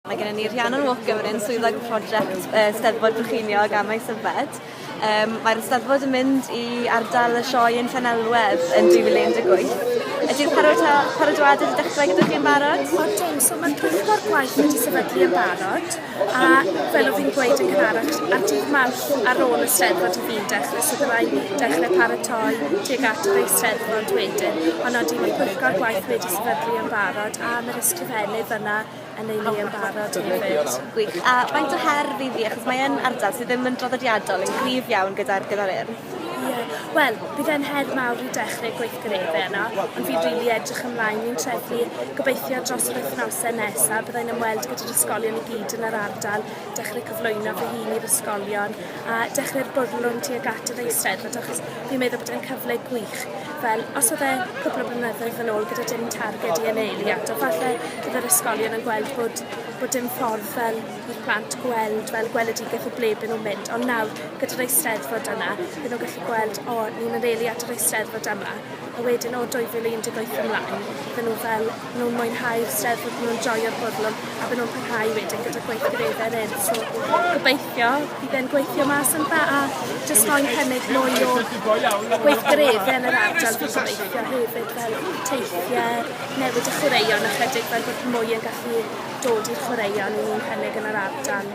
Mae gennym ni Rhiannon Walker yn swyddog prosiect uh, Steddfod Brycheiniog a Maes Yfed. Um, Mae'r Steddfod yn mynd i ardal y sioe yn Llanelwedd yn 2018 Ydy'r parodwadau wedi dechrau gyda chi'n barod? O, dim. So mae'r pwyllgor gwaith wedi sefydlu yn barod, a fel oedd fi'n gweud yn cynharach, ar dydd mawr ar ôl y steddfod i fi'n dechrau, so byddai dechrau paratoi tuag at yr eisteddfod wedyn. Ond oeddi, mae'r pwyllgor gwaith wedi sefydlu yn barod, a mae'r ysgrifennydd yna yn ei le yn barod hefyd. Gwych. A faint o her fydd hi, achos mae'n ardal sydd ddim yn draddodiadol, yn gryf iawn gyda'r gyda'r urdd. Ie, wel, bydd e'n her mawr i dechrau gweithgareddau yno, ond fi'n rili really edrych ymlaen i'n trefi. Gobeithio dros yr wythnosau nesaf byddai'n ymweld gyda'r ysgolion i gyd yn yr ardal dechrau cyflwyno fy hun i'r ysgolion a dechrau'r bwrlwm tuag at yr Eisteddfod achos fi'n meddwl bod e'n cyfle gwych. Fel, os oedd e cwpl o blynyddoedd yn ôl gyda dim targed i aneili ato, falle bydd yr ysgolion yn gweld bod, bod dim ffordd fel i'r plant gweld fel gweledigaeth o ble byd nhw'n mynd. Ond nawr, gyda'r Eisteddfod yna, bydd nhw'n gallu gweld, o, ni'n aneili at yr Eisteddfod yma. A wedyn o 2018 ymlaen, bydd nhw fel, Bydden nhw'n mwynhau'r Steddfod, bydden nhw'n joio'r bwrlwm a bydden nhw'n parhau wedyn gyda gweithgareddau eraill. So gobeithio bydd e'n gweithio mas yn dda a jyst roi'n cynnig mwy o gweithgareddau yn yr ardal fi'n gobeithio hefyd fel teithiau, newid y chwaraeon ychydig fel bod mwy yn gallu dod i'r chwaraeon ni'n cynnig yn yr ardal.